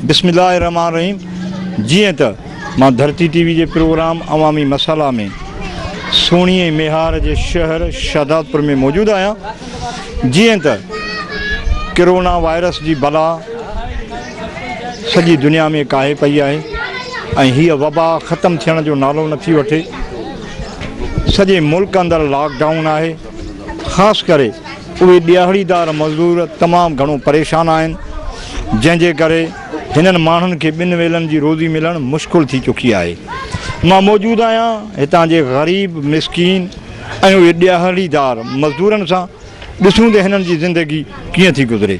بسم الله الرحمن الرحيم جيئن ته مان ڌرتي ٽي وي جي پروگرام عوامي مسئلا ۾ سهڻي ۽ ميهار جي شهر شهداد پور ۾ موجود آهيان جيئن ته ڪرونا وائرس جي بلا سڄي دنيا ۾ ڪاهي پئي آهي ۽ هيء وبا ختم ٿيڻ جو نالو نٿي وٺي سڄي ملڪ اندر لاڪ ڊائون آهي، خاص ڪري اهي ڏياهڙيدار مزدور تمام گهڻو پريشان آهن، جنهن جي ڪري هنن ماڻهن کي ٻن ويلن جي روزي ملڻ مشڪل ٿي چڪي آهي، مان موجود آهيان هتان جي غريب مسڪين ۽ اهي ڏياهڙيدار مزدورن سان، ڏسون ته هنن جي زندگي ڪيئن ٿي گذري.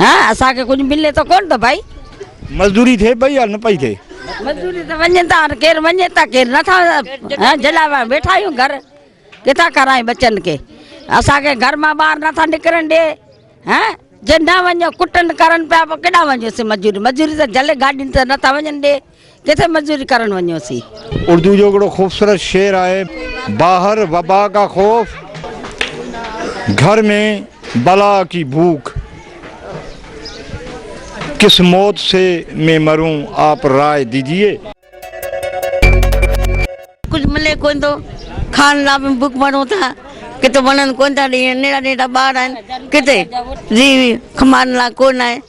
ها اسان کي ڪجهه ملي ته ڪون ته ڀائي. مزدوري ٿئي پئي يا نه پئي ٿئي. مزدوري ته وڃن ٿا هاڻي ڪير وڃي ته ڪير نه ٿا جلا ويا ويٺا آهيون گهر ڪٿان کارائين ٻچن کي اسان کي گهر مان ٻاهر نه ٿا نڪرن ڏي ها جي نه وڃو ڪٽن ڪرن پيا پوء ڪيڏانهن وڃو سي مزدوري مزدوري ته جلي گاڏين ته نه ٿا وڃن ڏي. ڪٿي مزوري ڪرڻ وڃون سين. اردو جو ھڪڙو خوبصورت شعر آھي. باھر وبا ڪا خوف گھر مين بلا ڪي ڀوک ڪس موت سي مين مرون آپ راء ديجيي. ڪجھ ملي ڪونه ٿو کائڻ لا به بک مرون ٿا ڪٿي وڻن ڪونه ٿا ڏينھن نيڙا نيڙا ٻار آھن ڪٿي جي کمائڻ لا ڪونه آھي.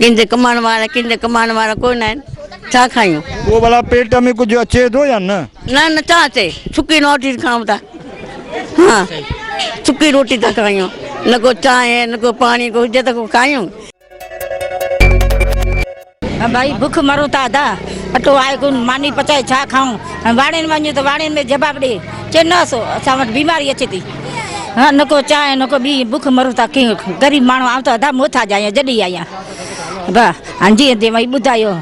ڪنھنجي ڪمائڻ وارا ڪنھنجي ڪمائڻ وارا ڪو نه آھن ڇا کايون. پوء ڀلا پيٽ ۾ ڪجهه اچي ٿو يا نه؟ نه نه ڇا اچي سڪي روٽي کائون ٿا ها سڪي روٽي ٿا کايون نه ڪو چانهه نه ڪو پاڻي ڪو هجي ته ڪو کايون. ڀائي بک مرون ٿا ادا اٽو آھي ڪون ماني پچائي ڇا کائون ۽ واڙين وڃون ته واڙين ۾ جواب ڏي چئي نه اسان وٽ بيماري اچي ٿي. ها نه ڪو چانهه نه ڪو ٻي بک مرون ٿا ڪي غريب ماڻهو آئون ته ادا محتاج آهيان جڏي آهيان با هان جي دي وئي ٻڌايو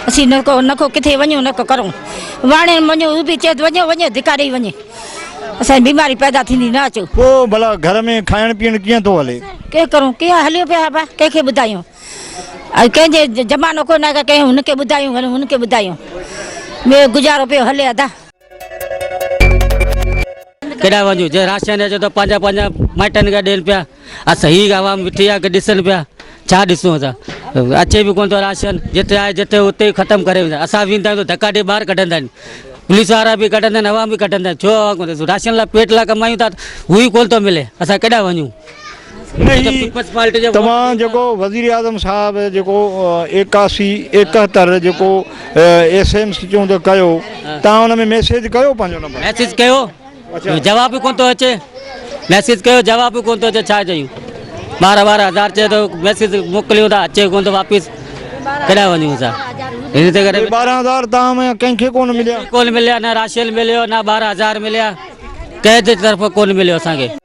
اسي نه ڪو نه ڪو ڪٿي وڃو نه ڪو ڪرون واڻي وڃو او به چيت وڃو وڃو ڌڪاري وڃي اسان بيماري پيدا ٿيندي نه اچو پو بلا گهر ۾ کائڻ پيڻ ڪيئن ٿو هلي ڪي ڪرون ڪي هليو پي ها با ڪي کي ٻڌايو اي ڪي جي زمانو ڪو نه ڪي هن کي ٻڌايو هن کي ٻڌايو مي گذارو پيو هلي ادا ڪيڏانهن وڃون جي راشن اچي ته پنهنجا پنهنجا مائٽن کي ڏين پيا اسان هي عوام وٺي آ ڏسن پيا ڇا ڏسون اسان اچي به ڪون ٿو راشن جتي آهي جتي اتي ختم ڪري ويندا اسان ويندا آهيون ته ڌڪا ڏي ٻاهر ڪڍندا آهن پوليس وارا به ڪڍندا آهن عوام به ڪڍندا آهن ڇو عوام ڪون راشن لاء پيٽ لاء ڪمايون ٿا هو ئي ڪون ٿو ملي اسان ڪيڏانهن وڃون نهين توهان جيڪو وزيراعظم صاحب جيڪو ايڪاسي ايڪهتر جيڪو ايس ايم سي چون ته ڪيو توهان ان ۾ ميسيج ڪيو پنهنجو نمبر ميسيج ڪيو جواب ڪون ٿو اچي ميسيج ڪيو جواب ڪون ٿو اچي ڇا چيون ٻارهن ٻارهن هزار چئي ٿو ميسيج موڪليون ٿا اچي ڪون ٿو واپس ڪيڏانهن وڃون اسان ان تي ڪري ٻارهن هزار توهان ۾ ڪنهن کي ڪون مليا ڪون مليا نه راشيل مليو نه ٻارهن هزار مليا ڪنهن جي طرف ڪون مليو اسان کي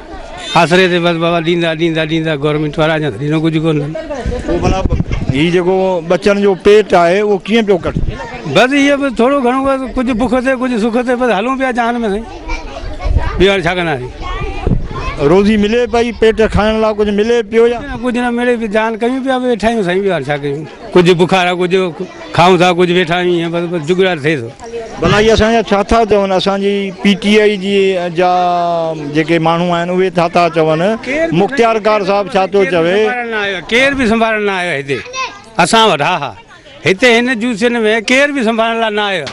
آسري تي بس بابا ڏيندا ڏيندا ڏيندا گورنمينٽ وارا اڃا ڏنو ڪجهه ڪونه اٿن پوء ڀلا هي جيڪو ٻچن جو پيٽ آهي اهو ڪيئن پيو ڪٽجي بس اهي به ٿورو گهڻو بس ڪجهه بک تي ڪجهه سک تي بس هلون پيا جهان ۾ سائين ٻيو هاڻي ڇا ڪنداسين روزي ملي پئي پيٽ کائڻ لاء ڪجهه ملي پيو يا ڪجهه نه ملي پيو جهان ڪيون پيا ويٺا آهيون سائين ٻيو هاڻي ڇا ڪيون ڪجهه بخار ڪجهه کائون ٿا ڪجهه ويٺا آهيون ائين بس بس جگڙا ٿئي ٿو. ڀلا هي اسان جا ڇا ٿا چون اسان جي پي ٽي آئي جي جا جيڪي ماڻهو آهن اهي ٿا ٿا چون مختيار ڪار صاحب ڇا ٿو چوي. ڪير به سنڀارڻ نه آيو هتي اسان وٽ ها ها هتي هن جوسين ۾ ڪير به سنڀارڻ لا نه آيو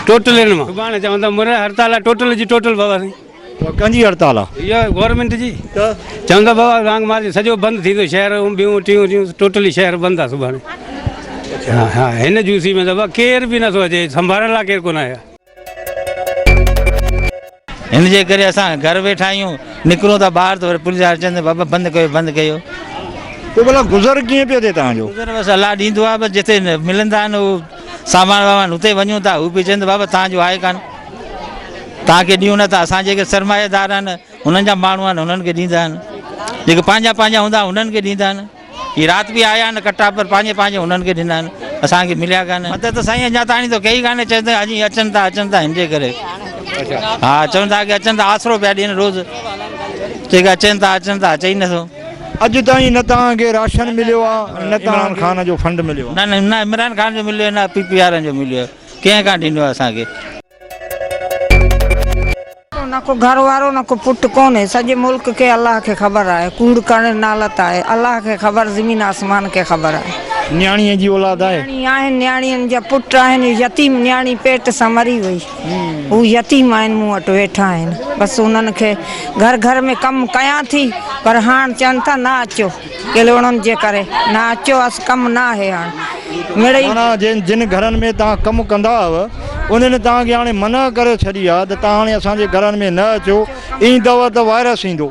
ٽوٽلين مان سڀاڻي چون ٿا مر هڙتال ٽوٽل جي ٽوٽل بابا سائين. اها ڪنهن جي هڙتال آ؟ اها گورنمينٽ جي ته چوندا بابا رانگ مارجن سڄو بند ٿيندو شهر ۽ ٻيون ٽيون ٽيون ٽوٽلي شهر بند آ سڀاڻي اها هن جوسي ۾ دبا ڪير به نٿو اچي سنڀارڻ لاء ڪير ڪونه آيو آ. هن جي ڪري اسان گهر ويٺا آهيون نڪرون ٿا ٻاهر ته وري پوليس وارا چون ٿا بابا بند ڪيو بند ڪيو. پوء ڀلا گذر ڪيئن پيو ٿئي توهان جو؟ گذر بس الله ڏيندو آ بس جتي ملندا آهن اهو سامان وامان اتي وڃون ٿا هو پي چون ته بابا تان جو آهي ڪانه تان کي ڏيون نه ٿا اسان جيڪي سرمايه دار آهن هنن جا ماڻهو آهن هنن کي ڏيندا آهن جيڪي پنهنجا پنهنجا هوندا هنن کي ڏيندا آهن هي رات به آيا آهن ڪٽا پر پنهنجي پنهنجي هنن کي ڏنا آهن اسان کي مليا ڪانه مدد ته سائين اڃا تاڻي ته ڪئي ڪانه چئن ته اڄ اچن ٿا اچن ٿا هن جي ڪري ها چون ٿا ڪي اچن ٿا آسرو پيا ڏين روز چئي ڪي اچن ٿا اچن ٿا اچي نه ٿو اڄ تائين نه توهان کي راشن مليو آ نه عمران خان جو فنڊ مليو آ. نه نه عمران خان جو مليو نه پي پي وارن جو مليو ڪنهن ڪان ڏنو آ اسان کي. نه ڪو گهر وارو نه ڪو پٽ ڪونهي سڄي ملڪ کي الله کي خبر آهي ڪوڙ ڪرڻ نالت آهي الله کي خبر زمين آسمان کي خبر آهي. نياڻيء جي اولاد آهي. نياڻي آهن نياڻين جا پٽ آهن يتيم نياڻي پيٽ سان مري وئي. هو يتيم آهن مون وٽ ويٺا آهن بس انهن کي گهر گهر ۾ ڪم ڪيان ٿي پر هاڻ چون ٿا نه اچو ڪلهوڙن جي ڪري نه اچو اس ڪم نه آهي هاڻ مڙئي معنيٰ جن جن گهرن ۾ توهان ڪم ڪندا هئو انهن توهان کي هاڻي منع ڪري ڇڏي آهي ته توهان هاڻي اسان جي گهرن ۾ نه اچو ايندؤ ته وائرس ايندو.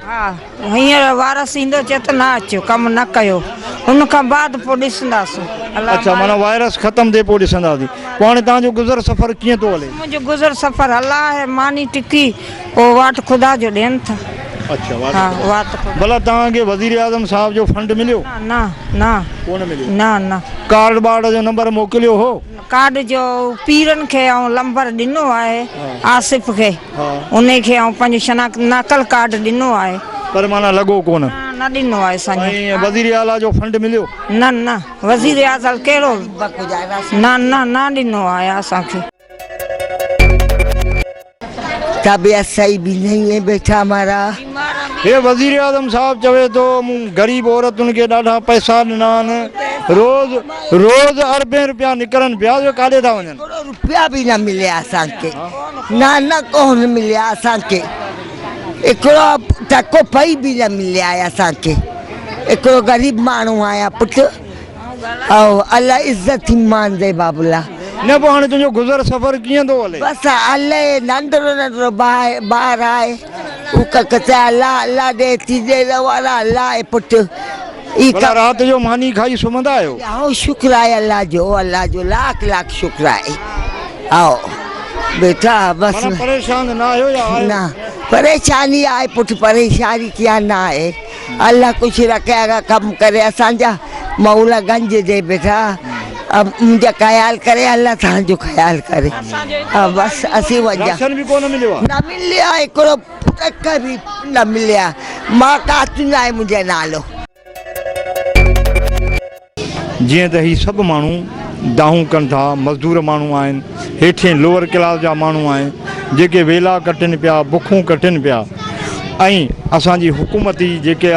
هينئر وارث ايندو چئي ته نه اچو ڪم نه ڪيو ان کان بعد پوء ڏسنداسون الله اڇا معنيٰ مالڪ وائرس ختم ٿئي پوء ڏسنداسين پوء هاڻي تهان جو گذر سفر ڪيئن ٿو هلي؟ منهنجو گذر سفر الله هي ماني ٽڪي پوء واٽ خدا جو ڏين ٿا اڇا واٽ ها خدا واٽ خدا ڀلا تهان کي وزير اعظم صاحب جو فنڊ مليو؟ نه نه نه ڪو نه مليو نه نه ڪارڊ ٻارڊ جو نمبر موڪليو هو؟ ڪارڊ جو پيرن کي آئون لمبر ڏنو آهي آصف کي انهي کي آئون پنهنجو شناخت نقل ڪارڊ ڏنو آهي. پر معنيٰ لڳو ڪونه. نه نه ڏنو آهي سائين. سائين وزير اعليٰ جو فنڊ مليو؟ نه نه وزير اعظل ڪهڙو نه نه نه ڏنو آهي اسان کي. تابعه سائي به نهي ائين بيٺا مارا. هي وزيراعظم صاحب چوي ٿو مون غريب عورتن کي ڏاڍا پئسا ڏنا آهن روز روز اربين روپيا نڪرن پيا اهي ڪاڏي ٿا وڃن. ڪروڙ روپيا به نه مليا اسان کي نه نه ڪونه مليا اسان کي هڪڙو ٽڪو پئي به نه مليا آهي اسان کي هڪڙو غريب ماڻهو آهيان پٽ او الله عزت ٿي مان زيبا بلا. نه پوء هاڻي تنهنجو گذر سفر ڪيئن ٿو هلي؟ بس هلي ننڍڙو ننڍڙو ٻار آهي هو ڪڪ چي الله الله ڏي ٿي ڏي نه وارا الله آهي پٽ اي ڪم. رات جو ماني کائي سمهندا آهيو؟ هائو شڪر آهي الله جو الله جو لاک لاک شڪر آهي هائو بيٽا بس. معنيٰ پريشان نه آهيو يا آهيو؟ نه پريشاني آهي پٽ پريشاني ڪيئن نه آهي. الله خوش رکي اھڙا ڪم ڪري اسان جا مولا گنج جي بيٺا منھنجا خيال ڪري الله تھان جو خيال ڪري بس اسين وجا نه مليا ھڪڙو پٽڪ به نه مليا مان ڪاتون آھي منھنجو نالو. جيئن ته هي سڀ ماڻهو دانهون ڪن ٿا، مزدور ماڻهو آهن، هيٺين لوئر ڪلاس جا ماڻهو آهن، جيڪي ويلا ڪٽن پيا، بکون ڪٽن پيا ۽ اسان جي حڪومتي جيڪي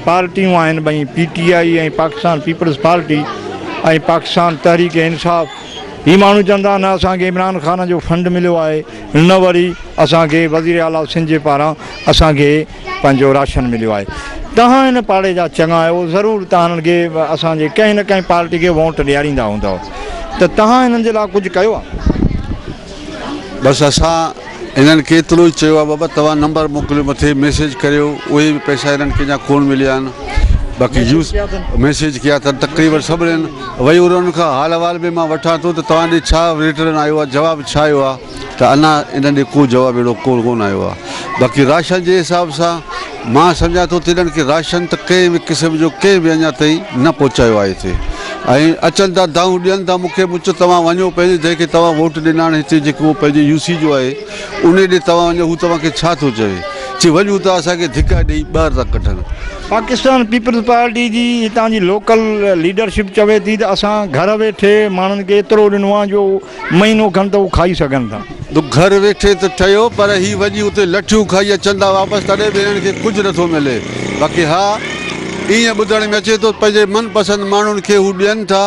پارٽيون آهن ٻئي P T I ۽ Pakistan peoples party ۽ Pakistan Tehreek Insaf هي ماڻهو چون ٿا نه اسان کي عمران خان جو فنڊ مليو آهي نه وري اسان کي وزير اعليٰ سنڌ جي پاران اسان کي پنهنجو راشن مليو آهي توهان هن پاڙي جا چڱا آهيو ضرور توهان هنن کي اسان جي ڪنهن نه ڪنهن پارٽي کي وونٽ ڏياريندا هوندؤ ته توهان هنن جي لاء ڪجهه ڪيو آهي. بس اسان هنن کي ايترو ئي چيو آهي بابا توهان نمبر موڪليو مٿي ميسيج ڪريو اهي به پئسا هنن کي اڃا ڪون مليا آهن باقي يوز ميسيج ڪيا اٿن تقريبن سڀنن وئي انهن کان حال احوال به مان وٺان ٿو ته توهان ڏي ڇا رٽرن آيو آهي جواب ڇا آيو آهي ته اڃا انهن ڏي ڪو جواب اهڙو ڪو ڪونه آيو آهي. باقي راشن جي حساب سان مان سمجهان ٿو ته انهن کي راشن ته ڪنهن به قسم جو ڪنهن به اڃا تائين نه پهچايو آهي هتي ۽ اچن ٿا دانهون ڏين ٿا مون کي مون چيو توهان وڃو پنهنجي جنهن کي توهان ووٽ ڏناڻ هتي جيڪو پنهنجي يو سي جو آهي انهي ڏي توهان وڃو هو توهان کي ڇا ٿو چوي چي وڃون ٿا اسان کي ڌڪا ڏئي ٻاهر ٿا ڪڍن. پاڪستان پيپلز پارٽي جي هتان جي لوڪل ليڊرشپ چوي ٿي ته اسان گهر ويٺي ماڻهن کي ايترو ڏنو آهي جو مهينو کن ته هو کائي سگهن ٿا. تو گهر ويٺي ته ٺهيو پر هي وڃي اتي لٺيون کائي اچن ٿا واپس تڏهن به هنن کي ڪجهه نٿو ملي باقي ها ائين ٻڌڻ ۾ اچي ٿو پنهنجي من پسند ماڻهن کي هو ڏين ٿا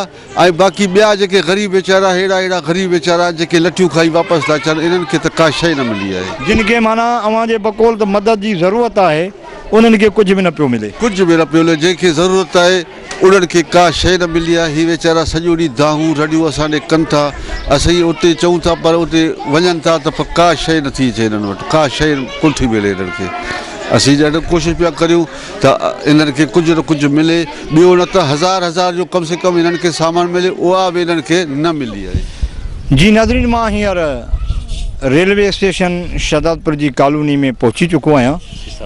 ۽ باقي ٻيا جيڪي غريب ويچارا ههڙا ههڙا غريب ويچارا جيڪي لٺيون کائي واپس ٿا اچن انهن کي ته ڪا شيء نه ملي آهي. جن کي معنيٰ اوهان جي بقول ته مدد جي ضرورت آهي انهن کي ڪجهه به نه پيو ملي. ڪجهه به نه پيو ملي جنهن کي ضرورت آهي. انهن کي ڪا شيء نه ملي آهي. هي ويچارا سڄو ڏينهن دانهون رڙيون اسان ڏي ڪن ٿا. اسين اتي چئون ٿا پر اتي وڃن ٿا ته پر ڪا شيء نه ٿي اچي هنن وٽ. ڪا شيء ڪونه ٿي ملي هنن کي. اسين ڏاڍو ڪوشش پيا ڪريون ته هنن کي ڪجهه نه ڪجهه ملي. ٻيو نه ته هزار هزار جو ڪم سي ڪم هنن کي سامان ملي اها به هنن کي نه ملي آهي. جي ناظرين مان هينئر ريلوي اسٽيشن شهدادپور جي ڪالوني ۾ پهچي چڪو آهيان.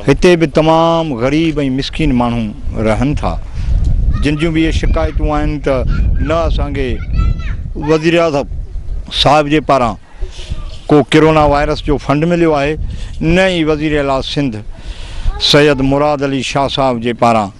هتي به تمام غريب ۽ مسڪين ماڻهو رهن ٿا جن جون به اهي شڪايتون آهن ته نه اسان کي وزيراعظم صاحب جي پاران ڪو ڪرونا وائرس جو فنڊ مليو آهي نه ئي وزيراعليٰ سنڌ سيد مراد علي شاهه صاحب جي پاران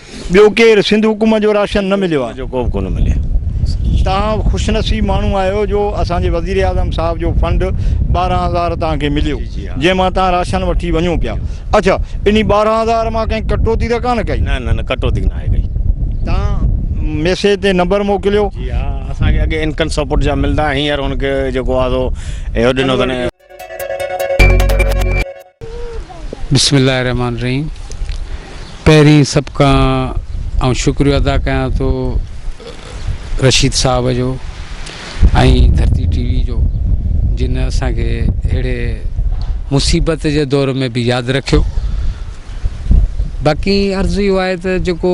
ٻيو ڪير سنڌ حڪومت جو راشن نه مليو آ. جو ڪوبه ڪونه ملي. توهان خوش نصيب ماڻهو آهيو جو اسان جي وزير اعظم صاحب جو فنڊ ٻارهن هزار توهان کي مليو جنهن مان توهان راشن وٺي وڃو پيا اڇا انهي ٻارهن هزار مان ڪنهن ڪٽوتي ته ڪانه ڪئي. نه نه نه ڪٽوتي ناهي ڪئي. توهان ميسيج تي نمبر موڪليو. جي ها اسان کي اڳي انڪن سپورٽ جا ملدا هينئر هن کي جيڪو آ سو اهو ڏنو اٿن. بسم الله الرحمن الرحيم پهرين سڀ کان آئون شڪريو ادا ڪيان ٿو رشيد صاحب جو ۽ ڌرتي ٽي وي جو جن اسان کي اهڙي مصيبت جي دور ۾ به ياد رکيو باقي عرض اهو آهي ته جيڪو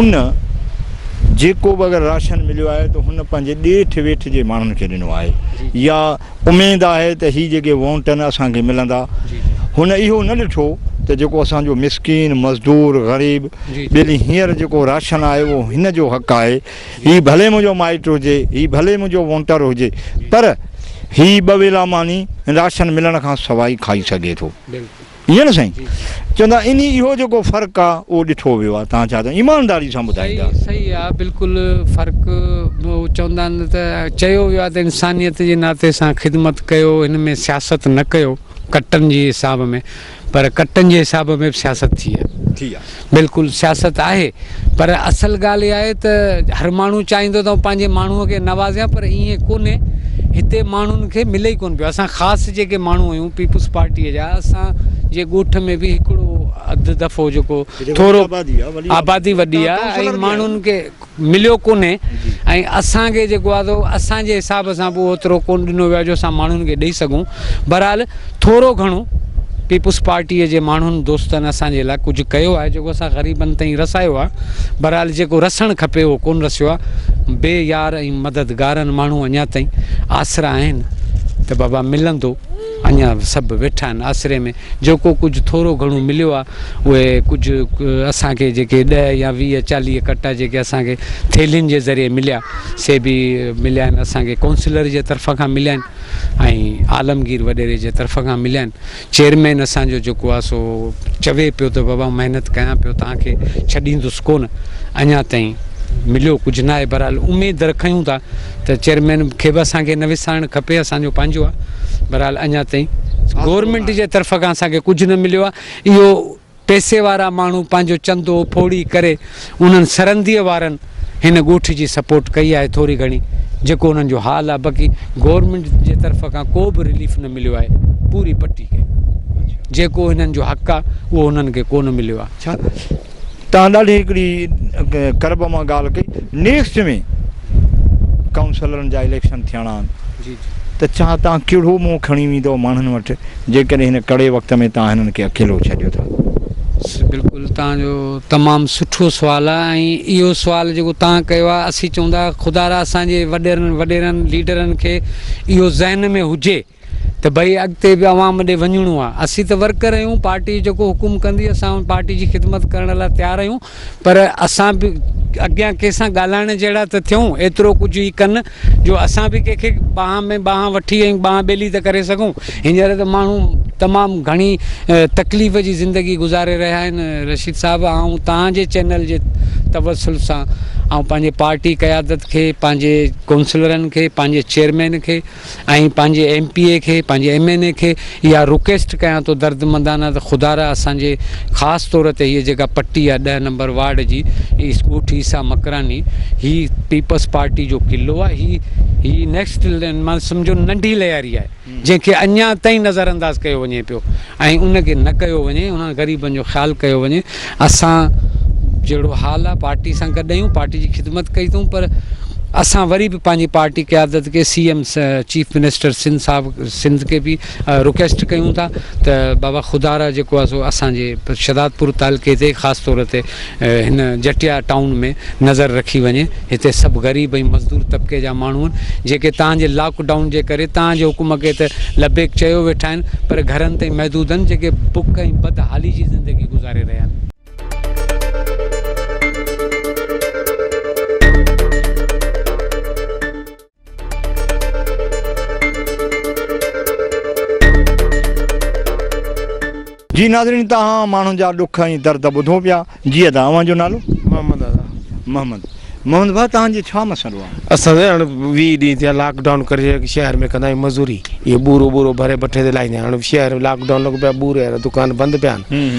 ان جيڪو به اگر راشن مليو آهي ته هن پنهنجي ڏيٺ ويٺ جي ماڻهن کي ڏنو آهي يا اميد آهي ته هي جيڪي وونٽ آهن اسان کي ملندا هن اهو نه ڏٺو ته جيڪو اسان جو مسڪين مزدور غريب ٻيلي هينئر جيڪو راشن آهي اهو هن جو حق آهي هي ڀلي منهنجو مائٽ هجي هي ڀلي منهنجو وونٽر هجي پر هي ٻه ويلا ماني راشن ملڻ کان سواء کائي سگهي ٿو ٺيڪ آهي نه سائين؟ چون ٿا انهي اهو جيڪو فرق آ اهو ڏٺو ويو آ تهان ڇا ته ايمانداري سان ٻڌائيندا. صحيح آ بلڪل فرق چوندا آهن نه ته چيو ويو آ ته انسانيت جي ناتي سان خدمت ڪيو هن ۾ سياست نه ڪيو ڪٽن جي حساب ۾ پر ڪٽن جي حساب ۾ به سياست ٿي آ. ٿي آ. بلڪل سياست آهي پر اصل ڳالهه اها آهي ته هر ماڻهو چاهيندو ته پنهنجي ماڻهو کي نوازيان پر ائين ڪونهي هتي ماڻهن کي ملي ئي ڪونه پيو اسان خاص جيڪي ماڻهو آهيون پيپلز پارٽي جا اسان جي ڳوٺ ۾ به هڪڙو اڌ دفعو جيڪو ٿورو آبادي وڏي آهي ۽ ماڻهن کي مليو ڪونهي ۽ اسان کي جيڪو آهي سو اسان جي حساب سان به اوترو ڪونه ڏنو ويو آهي جو اسان ماڻهن کي ڏئي سگهون بهرحال ٿورو گهڻو پيپلز پارٽي جي ماڻهن دوستن اسان جي لاء ڪجهه ڪيو آهي جيڪو اسان غريبن تائين رسايو آهي بهرحال جيڪو رسڻ کپي اهو ڪونه رسيو آهي بي يار ۽ مددگارن ماڻهو اڃا تائين آسرا آهن ته بابا ملندو اڃا سڀ ويٺا آهن آسري ۾ جيڪو ڪجهه ٿورو گهڻو مليو آ اهي ڪجهه اسان کي جيڪي ڏهه يا ويهه چاليهه ڪٽا جيڪي اسان کي ٿيلهين جي ذريعي مليا سي به مليا آهن اسان کي ڪونسلر جي طرف کان مليا آهن ۽ عالمگير وڏيري جي طرف کان مليا آهن چيئرمين اسان جو جيڪو آ سو چوي پيو ته بابا محنت ڪيان پيو توهان کي ڇڏيندس ڪونه اڃا تائين مليو ڪجهه نه آهي بهرحال اميد رکيون ٿا ته چيئرمين کي به اسان کي نه وسارڻ کپي اسان جو پنهنجو آ بھرحال اڃا تائين گورنمينٽ جي طرف کان اسان کي ڪجھ نه مليو آ اهو پئسي وارا ماڻهو پنهنجو چندو ڦوڙي ڪري انهن سرندي وارن هن ڳوٺ جي سپورٽ ڪئي آهي ٿوري گھڻي جيڪو انهن جو حال آ باقي گورنمينٽ جي طرف کان ڪو به رليف نه مليو آهي پوري پٽي کي جيڪو هنن جو حق آ اهو هنن کي ڪونه مليو آ تان ڏاڍي هڪڙي قرب مان ڳالهه ڪئي نيڪسٽ ۾ ڪائونسلرن جا اليڪشن ٿيڻا آهن جي جي ته ڇا تان ڪهڙو منهن کڻي ويندو ماڻهن وٽ جيڪڏهن هن ڪڙي وقت ۾ تان هنن کي اڪيلو ڇڏيو ٿا بلڪل تان جو تمام سٺو سوال آ ۽ اهو سوال جيڪو تان ڪيو آ اسين چئون ٿا خدارا اسان جي وڏيرن وڏيرن ليڊرن کي اهو ذهن ۾ هجي ته ڀئي اڳتي به عوام ڏي وڃڻو آ اسين ته ورڪر آهيون پارٽي جيڪو حڪم ڪندي اسان پارٽي جي خدمت ڪرڻ لاء تيار آهيون پر اسان به اڳيان ڪنهن سان ڳالهائڻ جهڙا ته ٿيون ايترو ڪجهه ئي ڪن جو اسان به ڪنهن کي ٻانهن ۾ ٻانهن وٺي ۽ ٻانهن ٻيلي ته ڪري سگهون هينئر ته ماڻهو تمام گهڻي تڪليف جي زندگي گذاري رهيا آهن رشيد صاحب آئون توهان جي چينل جي توسل سان آئون پنهنجي پارٽي قيادت کي پنهنجي ڪونسلرن کي پنهنجي چيئرمين کي آئين پنهنجي ايم پي اي کي پنهنجي ايم اين اي کي اها رڪيسٽ ڪيان ٿو دردمندانه ته خدا را اسان جي خاص طور تي هيء جيڪا پٽي آهي ڏهه نمبر وارڊ جي ايس ڳوٺ عيسيٰ مڪراني هي پيپلز پارٽي جو قلعو آهي هي هي نيڪسٽ مان سمجهو ننڍي لياري آهي جنهن کي اڃان تائين نظر انداز ڪيو وڃي پيو ۽ ان کي نه ڪيو وڃي انهن غريبن جو خيال ڪيو وڃي اسان جهڙو حال آ پارٽي سان گڏ آهيون پارٽي جي خدمت ڪئي اٿئون پر اسان وري به پنهنجي پارٽي قيادت کي C M chief minister Sindh صاحب سنڌ کي به رڪويسٽ ڪيون ٿا ته بابا خدارا جيڪو آ سو اسان جي شهدادپور تعلقي تي خاص طور تي هن جٽيا ٽائون ۾ نظر رکي وڃي هتي سڀ غريب ۽ مزدور طبقي جا ماڻهو آهن جيڪي تان جي لاڪ ڊائون جي ڪري تان جي حڪم کي ته لبيڪ چيو ويٺا آهن پر گهرن تائين محدود آهن جيڪي بک ۽ بد حالي جي زندگي گذاري رهيا آهن. جي ناظرين تهان ماڻهن جا ڏک ۽ درد ٻڌو پيا جي ادا اوهان جو نالو محمد ادا محمد محمد ڀا تهان جي ڇا مسئلو آهي اسان جي هاڻي ويهه ڏينهن ٿيا لاڪ ڊائون ڪري شهر ۾ ڪندا آهيون مزوري اهو ٻورو ٻورو ڀري بٺي تي لاهيندا آهيون هاڻي شهر لاڪ ڊائون لڳو پيو بوري وارا دڪان بند پيا آهن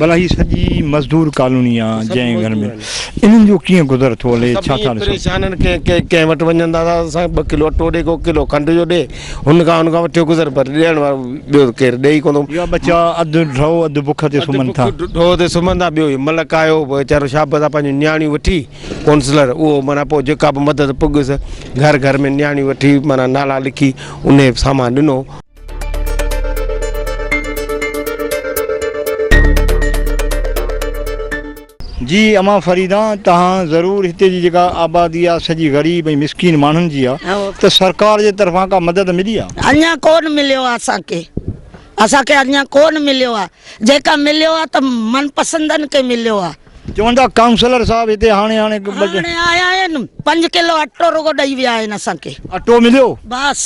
ڀلا هي سڄي مزدور ڪالوني آ جنهن گهر ۾ انهن جو ڪيئن گذر ٿو هلي ڇا ٿا ڏسن. پريشان آهن ڪنهن ڪنهن ڪنهن وٽ وڃن ٿا ته سائين ٻه ڪلو اٽو ڏي ڪو ڪلو کنڊ جو ڏي هن کان هن کان وٺيو گذر پر ڏيڻ وارو ٻيو ته ڪير ڏئي ڪونه ٿو. اها ٻچا اڌ ڍؤ اڌ بک تي سمهن ٿا. اڌ بک ڍؤ تي سمهن ٿا ٻيو هي ملڪ آيو ويچارو شابس آ پنهنجون نياڻيون وٺي ڪونسلر اهو معنيٰ پوء جيڪا به مدد پڳس گهر گهر ۾ نياڻيون وٺي معنيٰ نالا لکي انهي سامان ڏنو. جي امان فريدان تهان ضرور هتي جي جيڪا آبادي آ سڄي غريب ۽ مسڪين ماڻهن جي آ ته سرڪار جي طرفان ڪا مدد ملي آ؟ اڃان ڪون مليو آ اسان کي اسان کي اڃان ڪون مليو آ جيڪا مليو آ ته من پسندن کي مليو آ. چون ٿا ڪائونسلر صاحب هتي هاڻي هاڻي هاڻي آيا آهن پنج ڪلو اٽو رڳو ڏئي ويا آهن اسان کي. اٽو مليو؟ بس.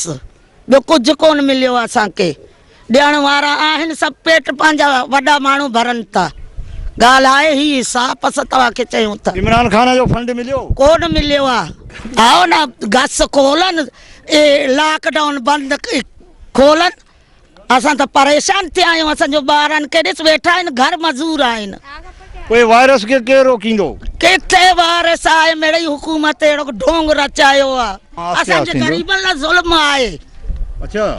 ٻيو ڪجهه ڪونه مليو اسان کي ڏيڻ وارا آهن سڀ پيٽ پنهنجا وڏا ماڻهو ڀرن ٿا ڳالهه آهي هي صاف اسان توهان کي چيون ٿا. عمران خان جو فنڊ مليو. ڪونه مليو آ آئو نا گس کولن اي لاڪ ڊائون بند کولن. اسان ته پريشان ٿيا آهيون اسان جو ٻارن کي ڏس ويٺا آهن گهر مزور آهن. پوء وائرس کي ڪير روڪيندو؟ ڪٿي وائرس آهي مڙئي حڪومت اهڙو ڍونگ رچايو آ اسان جي غريبن لا ظلم آهي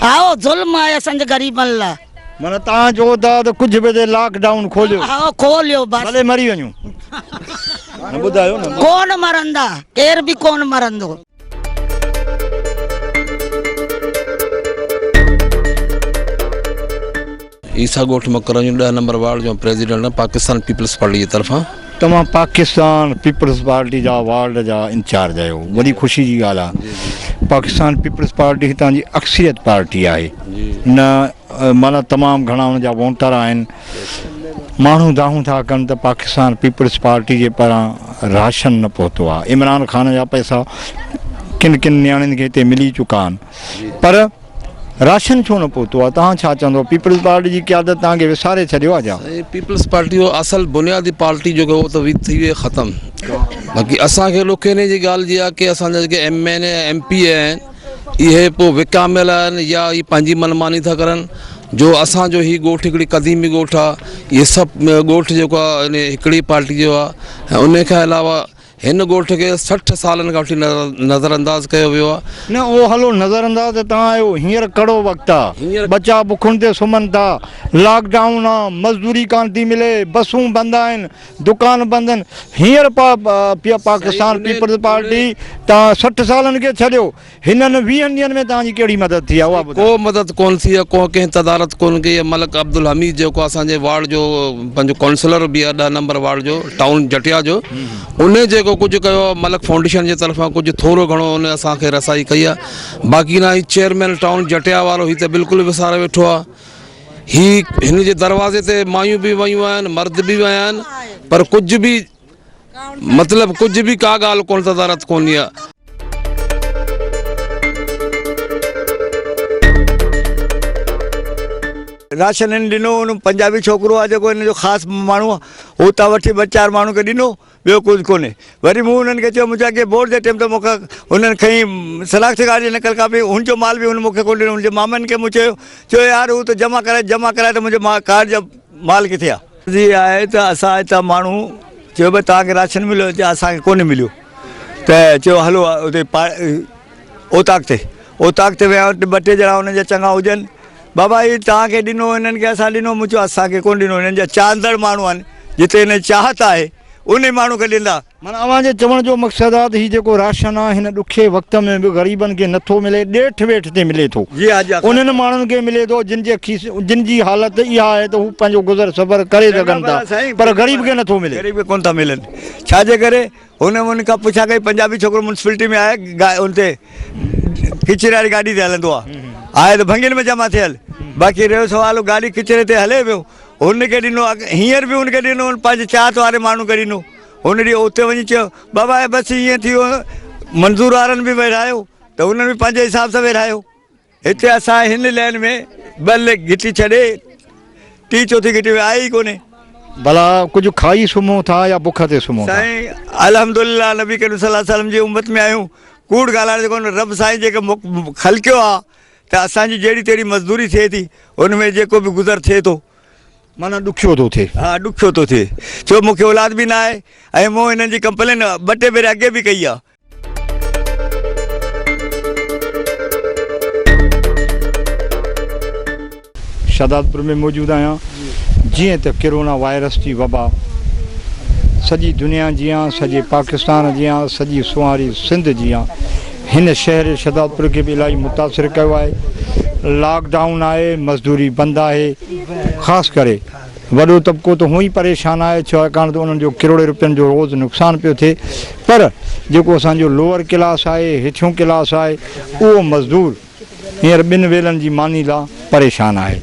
هائو ظلم آهي اسان جي غريبن لا. معنيٰ تهان چئو ٿا ته ڪجهه به ٿئي لاڪ ڊائون کوليو. ها کوليو بس. ڀلي مري وڃون. ڪون مرندا ڪير به ڪون مرندو. عيسيٰ ڳوٺ مڪران جون ڏهه نمبر وارڊ جون پريزيڊنٽ پاڪستان پيپلز پارٽي جي طرفان توهان پاڪستان پيپلز پارٽي جا وارڊ جا انچارج آهيو وڏي خوشي جي ڳالهه آهي پاڪستان پيپلز پارٽي هتان جي اڪثريت پارٽي آهي نه معنيٰ تمام گهڻا ان جا وونٽر آهن ماڻهو دانهون ٿا ڪن ته پاڪستان پيپلز پارٽي جي پاران راشن نه پهتو آهي عمران خان جا پئسا ڪن ڪن نياڻين کي هتي ملي چڪا آهن پر راشن ڇو نه پهتو آهي توهان ڇا چوندو پيپلز پارٽي جي قيادت توهان کي وساري ڇڏيو آهي جا پيپلز پارٽي جو اصل بنيادي پارٽي جو هو ته ٿي وئي ختم باقي اسان کي ڏک ان جي ڳالهه جي آهي ڪي اسان جا جيڪي M N A M P A آهن اهي پوء وڪاميل آهن يا اهي پنهنجي من ماني ٿا ڪرن جو اسان جو هي ڳوٺ هڪڙي قديمي ڳوٺ آ اهي سڀ ڳوٺ جيڪو آ يعني هڪڙي پارٽي جو آ ۽ انهي کان علاوه هن ڳوٺ کي سٺ سالن کان وٺي نظر انداز ڪيو ويو آ. نه اهو هلو نظر انداز ته توهان آهيو هينئر ڪڙو وقت آ ٻچا بکن تي سمهن ٿا لاڪ ڊائون آ مزدوري ڪانه ٿي ملي بسون بند آهن. دڪان بندن هينئر پا پيا پاڪستان پيپلز پارٽي تا سٺ سالن کي ڇڏيو هنن ويهن ڏينهن ۾ توهان جي ڪهڙي مدد ٿي آهي اها ٻڌايو. ڪو مدد ڪون ٿي آهي ڪون ڪنهن تدارت ڪون ڪئي آهي ملڪ عبدالحميد جيڪو اسان جي وارڊ جو پنهنجو ڪونسلر به آهي ڏهه نمبر وارڊ جو ٽائون جٽيا جو ان جيڪو ڪجهه ڪيو آهي ملڪ فائونڊيشن جي طرفان ڪجهه ٿورو گهڻو ان اسان کي رسائي ڪئي آهي باقي نه هي چيئرمين ٽائون جٽيا وارو هي ته بلڪل وساري ويٺو آهي هي هن جي دروازي تي مايون به ويون آهن مرد به ويا آهن پر ڪجهه به مطلب ڪجهه به ڪا ڳالهه ڪونه تدارت ڪونهي آ. راشن هن ڏنو هن پنجابي ڇوڪرو آ جيڪو هن جو خاص ماڻهو آ هو اتان وٺي ٻه چار ماڻهن کي ڏنو. ٻيو ڪجهه ڪونهي. وري مون انهن کي چيو، منهنجي اڳئين بورڊ جي ٽيم ته مون کان انهن کئين شناختي ڪارڊ جي نقل ڪاپي، هن جو مال به هن مون کي ڪونه ڏنو. هن جي مامن کي مون چيو، چيو يار هو ته جمع ڪرائي، جمع ڪرائي ته منهنجي ڪارڊ جا مال ڪٿي آ؟ عرض اها آهي ته اسان هتان ماڻهو چيو ڀئي توهان کي راشن مليو، چيو اسان کي ڪونه مليو ته چيو هلو اتي پا. اوطاق تي اوطاق تي ويا ٻه ٽي ڄڻا انهن جا چڱا هجن بابا هي توهان کي ڏنو هنن کي اسان ڏنو مون چيو اسان کي ڪونه ڏنو هنن جا چاهندڙ ماڻهو آهن جتي هن چاهت آهي انهي ماڻهو کي ڏيندا. معنيٰ اوهان جي چوڻ جو مقصد آ ته هي جيڪو راشن آ هن ڏکي وقت ۾ به غريبن کي نه ٿو ملي ڏيٺ ويٺ تي ملي ٿو جي ها جي ها انهن ماڻهن کي ملي ٿو جن جي کيس جن جي حالت اها آهي ته هو پنهنجو گذر سفر ڪري سگهن ٿا پر غريب کي نه ٿو ملي غريب کي ڪونه ٿا ملن ڇا جي ڪري هن ان کان پڇا ڪئي پنجابي ڇوڪرو ميونسپلٽي ۾ آهي ان تي ڪچري واري گاڏي تي هلندو آهي آهي ته ڀنگين ۾ جمع ٿيل باقي رهيو سوال گاڏي ڪچري تي هلي ويو هن کي ڏنو هينئر به هن کي ڏنو پنهنجي چاهت واري ماڻهو کي ڏنو هن ڏينهن اتي وڃي چيو بابا بس ائين ٿي ويو منظور وارن به ويڙهايو ته هنن به پنهنجي حساب سان ويڙهايو هتي اسان هن لين ۾ ٻه ليڪ گهٽي ڇڏي ٽي چوٿين گهٽي ۾ آيا ئي ڪونهي. ڀلا ڪجهه کائي سمهون ٿا يا بک تي سمهون ٿا؟ سائين الحمدلله نبي ڪريم صلي الله عليه وسلم جي امت ۾ آهيون ڪوڙ ڳالهائڻ جو ڪونه رب سائين جيڪي خلقيو آ ته اسان جي جهڙي تهڙي مزدوري ٿئي ٿي ان ۾ جيڪو به گذر ٿئي ٿو. معنيٰ ڏکيو ٿو ٿئي. ها ڏکيو ٿو ٿئي ڇو مونکي اولاد به ناهي ۽ مون هنن جي ڪمپلين ٻه ٽي ڀيرا اڳي به ڪئي آ. شھدادپور ۾ موجود آھيان جيئن ته ڪرونا وائرس جي وبا سڄي دنيا جيان سڄي پاڪستان جيان سڄي سونھاري سنڌ جيان ھن شھر شھدادپور کي به الاھي متاثر ڪيو آھي لاڪ ڊائون آھي مزدوري بند آھي خاص ڪري وڏو طبقو ته هونء ئي پريشان آهي ڇاڪاڻ ته انهن جو ڪروڙين روپين جو روز نقصان پيو ٿئي پر جيڪو اسان جو لوئر ڪلاس آهي هيٺيون ڪلاس آهي اهو مزدور هينئر ٻن ويلن جي ماني لا پريشان آهي.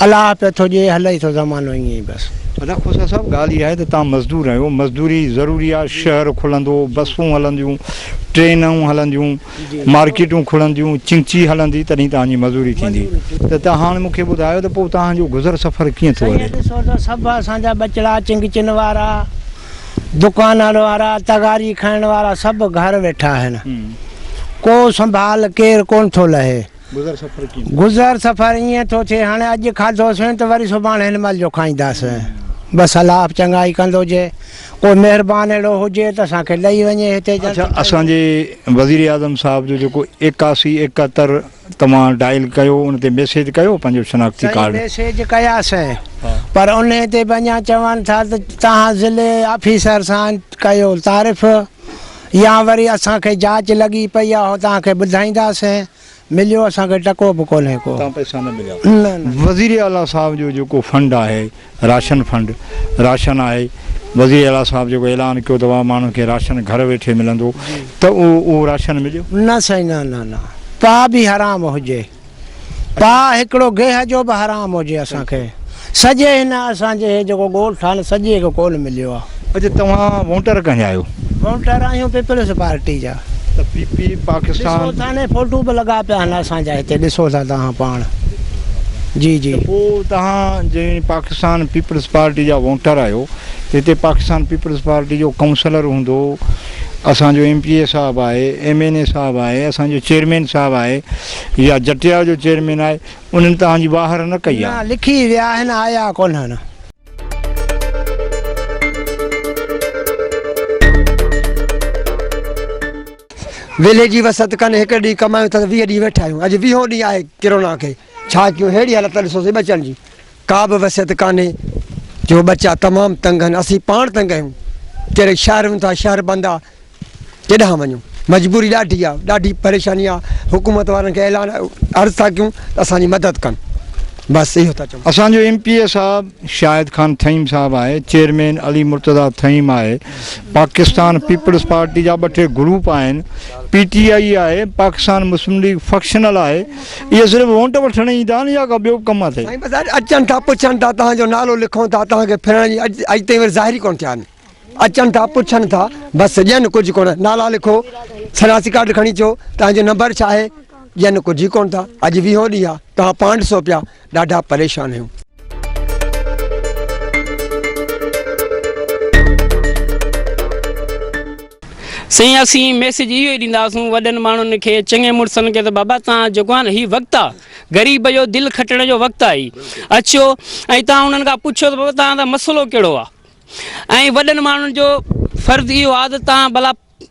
الاهه پيو ٿو ڏئي هلئي ٿو زمانو ائين ئي بس. ادا کوسا صاحب ڳالهه اها آهي ته توهان مزدور آهيو مزدوري ضروري آهي شهر کلندو بسون هلنديون ٽرينون هلنديون مارڪيٽون کلنديون چنگچي هلندي تڏهن توهان جي مزوري ٿيندي ته توهان هاڻ مون کي ٻڌايو ته پوء توهان جو گذر سفر ڪيئن ٿو هلي. سائين ڏسو ته سڀ اسان جا ٻچڙا چنگچين وارا دڪانن وارا تغاري کائڻ وارا سڀ گهر ويٺا آهن ڪو سنڀال ڪير ڪونه ٿو لهي. گذر سفر ائين ٿو ٿئي هاڻي اڄ کاڌو سين ته وري سڀاڻ هن مهل جو کائينداس بس الله اپ چڱائي ڪندو جي ڪو مهربان اهڙو هجي ته اسان کي ڏئي وڃي هتي جلد اڇا اسان جي وزير اعظم صاحب جو جيڪو ايڪاسي ايڪهتر توهان ڊائل ڪيو ان تي ميسيج ڪيو پنهنجو شناختي سائين ڪارڊ. ميسيج ڪياسين پر انهي تي به اڃا چون ٿا ته توهان ضلعي آفيسر سان ڪيو تعارف. يا وري اسان کي جاچ لڳي پئي اهو توهان کي ٻڌائينداسين، مليو اسان کي ٽڪو به ڪونهي ڪو. تان پئسا نه مليا. نه نه. وزير اعليٰ صاحب جو جيڪو فنڊ آهي راشن فنڊ راشن آهي وزير اعليٰ صاحب جيڪو اعلان ڪيو ته واهه ماڻهن کي راشن گهر ويٺي ملندو ته اهو اهو راشن مليو؟ نه سائين نه نه نه پاء به حرام هجي. پاء هڪڙو گيهه جو به حرام هجي اسان کي سڄي هن اسان جي هي جيڪو ڳولٺ آهي نه سڄي کي ڪون مليو آهي. اچ توهان وونٽر ڪنهن جا آهيو؟ وونٽر آهيون پيپلز پارٽي جا. ته پي پي پاڪستان. ڏسو ٿا نه فوٽو به لڳا پيا آهن اسان جا هتي ڏسو ٿا توهان پاڻ جي جي. ته پو توهان جي پاڪستان پيپلز پارٽي جا وونٽر آهيو ته هتي پاڪستان پيپلز پارٽي جو ڪونسلر هوندو. اسان جو ايم پي اي صاحب آهي، ايم اين اي صاحب آهي، اسان جو چيئرمين صاحب آهي يا جٽيا جو چيئرمين آهي، انهن توهان جي واهر نه ڪئي آهي. نه لکي ويا آهن آيا ڪونهن. ويلي جي وسعت ڪن هڪڙي ڏينهن ڪمايون ٿا ته ويهه ڏينهن ويٺا آهيون اڄ ويهون ڏينهن آهي ڪرونا کي. ڇا ڪيون ههڙي حالت تان ڏسوسين ٻچن جي ڪا به وصيت ڪانهي جو ٻچا تمام تنگ آهن اسين پاڻ تنگ آهيون ڪهڙي شهر وڃون ٿا شهر بند آهي ڪيڏانهن وڃون مجبوري ڏاڍي آهي ڏاڍي پريشاني آهي حڪومت وارن کي اعلان عرض ٿا ڪيون ته اسان جي مدد ڪن بس اهو ٿا چون اسان جو ايم پي اي صاحب شاهد خان ٿهيم صاحب آهي چيئرمين علي مرتضيٰ ٿهيم آهي پاڪستان پيپلز پارٽي جا ٻه ٽي گروپ آهن پي ٽي آئي آهي پاڪستان مسلم ليگ فڪشنل آهي اهي صرف وونٽ وٺڻ ايندا آهن يا ڪا ٻيو به ڪم اٿئي؟ سائين بس اڄ اچن ٿا پڇن ٿا توهان جو نالو لکون ٿا توهان کي ڦرڻ جي اڄ اڄ تائين وري ظاهر ئي ڪونه ٿيا آهن اچن ٿا پڇن ٿا بس ڄن ڪجهه ڪونه نالا لکو شناسي ڪارڊ کڻي اچو توهان جو نمبر ڇا آهي ڄن ڪجهه ئي ڪونه ٿا اڄ ويهون ڏينهن آهي توهان پانڊ سو پيا ڏاڍا پريشان آهيون. سائين اسين ميسج اهو ئي ڏينداسون وڏن ماڻهن کي چڱي مڙسن کي ته بابا توهان جيڪو آهي نه هي وقت آ غريب جو دل کٽڻ جو وقت آهي اچو ۽ توهان انهن کان پڇو ته بابا توهان جو مسئلو ڪهڙو آ ۽ وڏن ماڻهن جو فرض اهو آ ته توهان ڀلا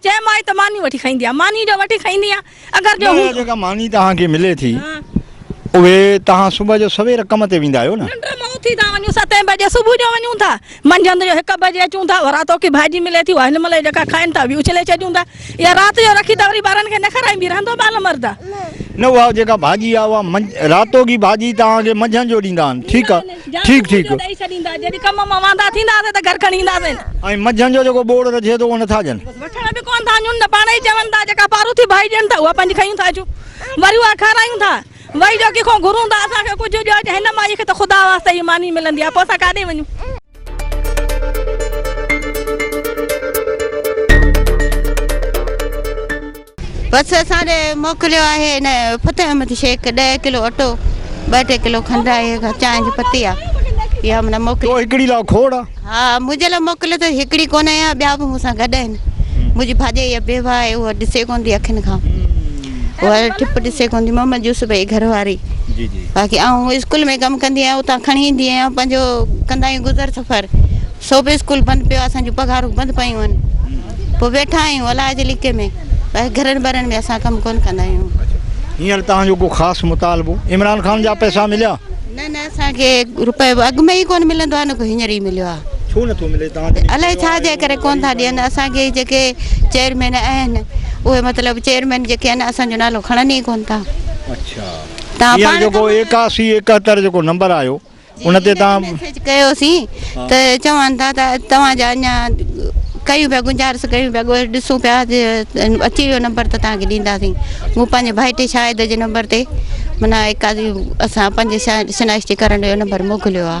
چيم آء ته ماني وٺي کائيندي آهيان. ماني جو وٺي کائيندي آهيان. اگر جو هوندو. جيڪا ماني توهان کي ملي ٿي اهي توهان صبح جو سوير ڪم تي ويندا آهيو نه؟ ننڊ مان اٿي ٿا وڃون ستين بجي صبح جو وڃون ٿا. منجهند جو هڪ بجي اچون ٿا. ورهاء توکي ڀاڄي ملي ٿي اها هن مهل جيڪا کائين ٿا اهي اڇلي ڇڏيون ٿا. اها رات جو رکي ته وري ٻارن کي نه کارائين به رهندو ٻال مرد آهي. نه اها جيڪا ڀاڄي آهي اها رات توکي ڀاڄي توهان کي منجهند جو ڏيندا آهن ٺيڪ آهي. جا سمون جو ڏئي ڇڏيندا. جڏھن ڪم مان واندا ٿينداسين ته گھر کڻي اينداسين. ۽ منجھن جو جيڪو ٻوڙ رجھي ٿو اھو نٿا ڏين. وٺڻ به ڪونه ٿا ڏيون نه پاڻ ئي چون ٿا جيڪا پاروٿي ڀائي ڏين ٿا اھا پنھنجي کنيون ٿا اچون وري اھا کارايون ٿا وري جو ڪنھن کان گھرون ٿا اسان کي ڪجھه ڏيو جا ھن مائي کي ته خدا واسطي ھي ماني ملندي آھي پوء اسان ڪاڏي وڃون. بس اسان ڏي موڪليو آهي ان فتح احمد شيخ ڏهه ڪلو اٽو ٻه ٽي ڪلو کنڊ آهي چانهه جي پتي آهي اها من موڪلي تو هڪڙي لا کوڙ آ ها منهنجي لا موڪليو اٿس هڪڙي ڪونه آهي ٻيا به مون سان گڏ آهن منهنجي ڀاڄائي يا بيوه آهي اها ڏسي ڪونه ٿي اکين کان اها ٺپ ڏسي ڪونه ٿي محمد يوسف جي گهر واري جي جي باقي آئون اسڪول ۾ ڪم ڪندي آهيان اتان کڻي ايندي آهيان پنهنجو ڪندا آهيون گذر سفر سو به اسڪول بند پيو آهي اسان جون پگهارون بند پيون آهن پوء ويٺا آهيون الاء جي ليڪي ۾ ٻاهر گهرن ٻرن ۾ اسان ڪم ڪونه ڪندا آهيون. هينئر توهان جو ڪو خاص مطالبو عمران خان جا پئسا مليا؟ نه نه اسان کي روپيو به اڳ ۾ ئي ڪونه ملندو آهي نه ڪو هينئر ئي مليو آهي. ڇو نه ٿو ملي توهان جي الاء ڇا جي ڪري ڪونه ٿا ڏين اسان کي جيڪي چيئرمين آهن اهي مطلب چيئرمين جيڪي آهن اسان جو نالو کڻن ئي ڪونه ٿا اڇا توهان پاڻ هينئر جيڪو ايڪاسي ايڪهتر جيڪو نمبر آيو ان تي تان ميسيج ڪيو سين ته چون ٿا ته توهان جا اڃا ڪيون پيا گنجارس ڪيون پيا ڳوهه ڏسون پيا اچي ويو نمبر ته تان کي ڏيندا سين مون پنهنجي ڀائٽي شاهد جي نمبر تي منا ايڪازي اسان پنهنجي شنائشتي ڪرڻ جو نمبر موڪليو آ.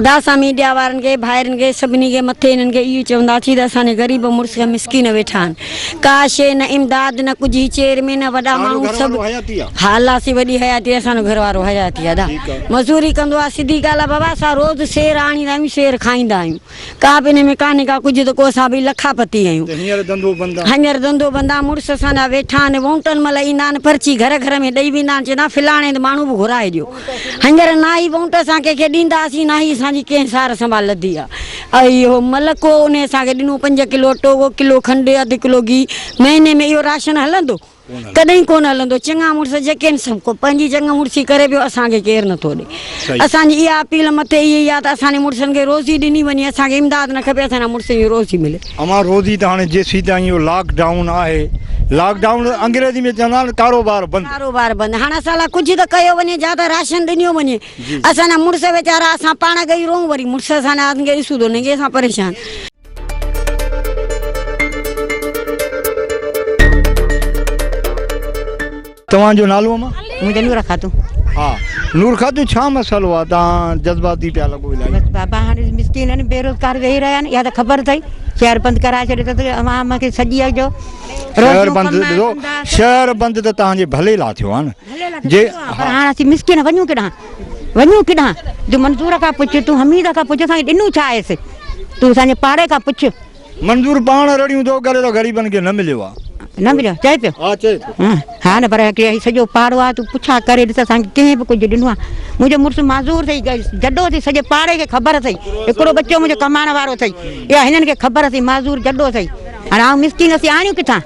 ادا اسان ميڊيا وارن کي ڀائرن کي سڀني کي مٿي انهن کي اهو چوندا سي ته اسان جي غريب مڙس کي مسڪين ويٺا آهن ڪا شي نه امداد نه ڪجهه هي چير مين نه وڏا ماڻهو سڀ ها الله سي وڏي حياتي اسان جو گهر وارو حياتي ادا مزوري ڪندو آهي سڌي ڳالهه آهي بابا اسان روز سير آڻيندا آهيون سير کائيندا آهيون ڪا به انهي ۾ ڪانهي ڪا ڪجهه ته ڪو سا به لکا پتي آهيون. هينئر ڌنڌو بند آ. هينئر ڌنڌو بند آ، مڙس اسان جا ويٺا آهن، وونٽن مهل ايندا آهن، پرچي گهر گهر ۾ ڏئي ويندا آهن، چوندا آهن فلاڻي هنڌ ماڻهو به گهرائي ڏيو. هينئر نه ئي وونٽ اسان ڪنهن کي ڏيندا هئاسين، نه ئي اسان جي ڪنهن سار سنڀال لڌي آ. اهي اهو ملڪ هو، انهي اسان کي ڏنو پنج ڪلو اٽو، ڪلو کنڊ، اڌ ڪلو گيهه، مهيني ۾ اهو راشن هلندو؟ ڪڏهن ڪونه هلندو چڱا مڙس جيڪين سو ڪو پنهنجي چڱ مڙسي ڪري پيو اسان کي ڪير نٿو ڏي اسان جي اها اپيل مٿي اهي ئي آ ته اسان جي مڙسن کي روزي ڏني وڃي اسان کي امداد نه کپي اسان جي مڙسن جي روزي ملي. امان روزي ته هاڻي جيسين تائين اهو لاڪ ڊائون آهي لاڪ ڊائون انگريزي ۾ چوندا آهن ڪاروبار بند. ڪاروبار بند هاڻ اسان لاء ڪجهه ته ڪيو وڃي جا ته راشن ڏنيو وڃي اسان جا مڙس ويچارا اسان پاڻ ڳئي رهون وري مڙس اسان جا اسان کي ڏسون ته انهن کي اسان پريشان. توهان جو نالو اما منهنجو نور خاتون ها نور خاتون ڇا مسئلو آ توهان جذباتي پيا لڳو الائي بس بابا هاڻي مسڪين آهن بيروزگار ويهي رهيا آهن اها ته خبر اٿئي شهر بند ڪرائي ڇڏيو اٿس عوام کي سڄي جو شهر بند ڏسو شهر بند ته توهان جي ڀلي لا ٿيو آهن جي پر هاڻ اسين مسڪين وڃون ڪيڏانهن وڃون ڪيڏانهن؟ جو منظور کان پڇ، تون حميد کان پڇ، اسان کي ڏنو ڇا آهيس؟ تون اسان جي پاڙي کان پڇ. منظور پاڻ رڙيون ٿو ڪري ته غريبن کي نه مليو آهي. نه مليو آهي چئي پيو؟ ها چئي پيو. ها نه پر هي سڄو پاڙو آهي تون پڇا ڪري ڏس اسان کي ڪنهن به ڪجهه ڏنو آهي. منهنجو مڙس معذور اٿئي، جڏو اٿئي سڄي پاڙي کي خبر اٿئي. هڪڙو ٻچو منهنجو ڪمائڻ وارو اٿئي. اها هنن کي خبر اٿئي معذور جڏو اٿئي. هاڻي آئون مسڪين اسين آڻيون ڪٿان؟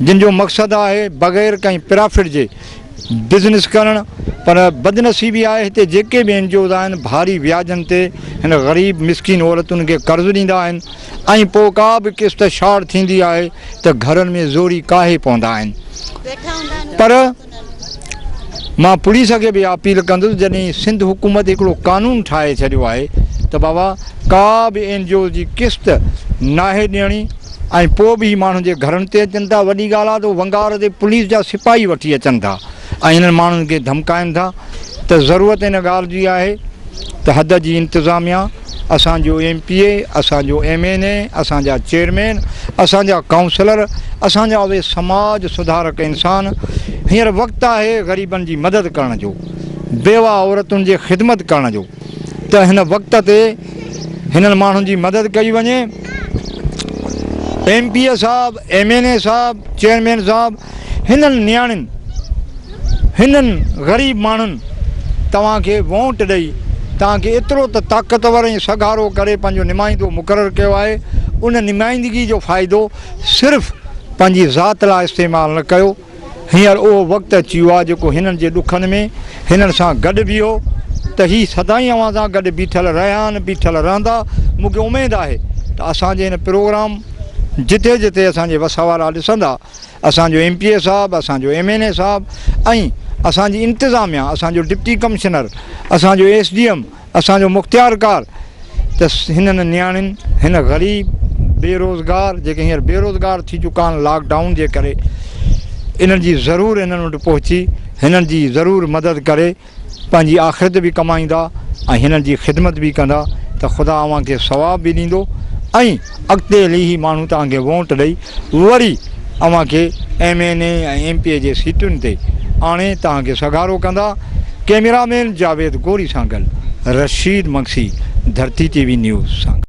جن جو مقصد آهي بغير ڪنهن پرافٽ جي بزنس ڪرڻ پر بدنصيبي آهي هتي جيڪي به اين جي اوز آهن ڀاري وياجن تي هن غريب مسڪين عورتن کي قرض ڏيندا آهن ۽ پوء ڪا به قسط شارٽ ٿيندي آهي ته گهرن ۾ زوري ڪاهي پوندا آهن پر مان پوليس کي به اها اپيل ڪندس جڏهن سنڌ حڪومت هڪڙو قانون ٺاهي ڇڏيو آهي ته بابا ڪا به اين جي اوز جي قسط ناهي ڏيڻي ۽ پوء به هي ماڻهن جي گهرن تي اچن ٿا وڏي ڳالهه آهي ته ونگار تي پوليس جا سپاهي وٺي اچن ٿا ۽ انهن ماڻهن کي ڌمڪائن ٿا ته ضرورت ان ڳالهه جي آهي ته حد جي انتظاميا، اسان جو ايم پي اي، اسان جو ايم اين اي، اسان جا چيئرمين، اسان جا ڪائونسلر، اسان جا اهي سماج سڌارڪ انسان، هينئر وقت آهي غريبن جي مدد ڪرڻ جو، بيوه عورتن جي خدمت ڪرڻ جو ته هن وقت تي هنن ماڻهن جي مدد ڪئي وڃي. ايم پي اي صاحب، ايم اين اي صاحب، چيئرمين صاحب هنن نياڻين هنن غريب ماڻهن توهان کي وونٽ ڏئي توهان کي ايترو ته طاقتور ۽ سگهارو ڪري پنهنجو نمائندو مقرر ڪيو آهي ان نمائندگي جو فائدو صرف پنهنجي ذات لاء استعمال نه ڪيو هينئر اهو وقت اچي ويو آهي جيڪو هنن جي ڏکن ۾ هنن سان گڏ بيهو ته هي سدائين اوهان سان گڏ بيٺل رهيا آهن بيٺل رهندا مون کي اميد آهي ته اسان جي هن پروگرام جتي جتي اسان جي وس وارا ڏسندا اسان جو ايم پي اي صاحب، اسان جو ايم اين اي صاحب ۽ اسان جي انتظاميا، اسان جو ڊپٽي ڪمشنر، اسان جو ايس ڊي ايم، اسان جو مختيارڪار ته هنن نياڻين، هن غريب، بي روزگار جيڪي هينئر بي روزگار ٿي چڪا آهن لاڪ ڊائون جي ڪري انهن جي ضرور هنن وٽ پهچي هنن جي ضرور مدد ڪري. پنهنجي آخرت به ڪمائيندا ۽ هنن جي خدمت به ڪندا ته خدا اوهان کي ثواب به ڏيندو ۽ اڳتي هلي هي ماڻهو توهان کي وونٽ ڏئي وري اوهان کي M N A ۽ M P A جي سيٽن تي آڻي توهان کي سگهارو ڪندا ڪيميرا مين جاويد گوري سان گڏ رشيد مگسي ڌرتي ٽي وي نيوز سان گڏ.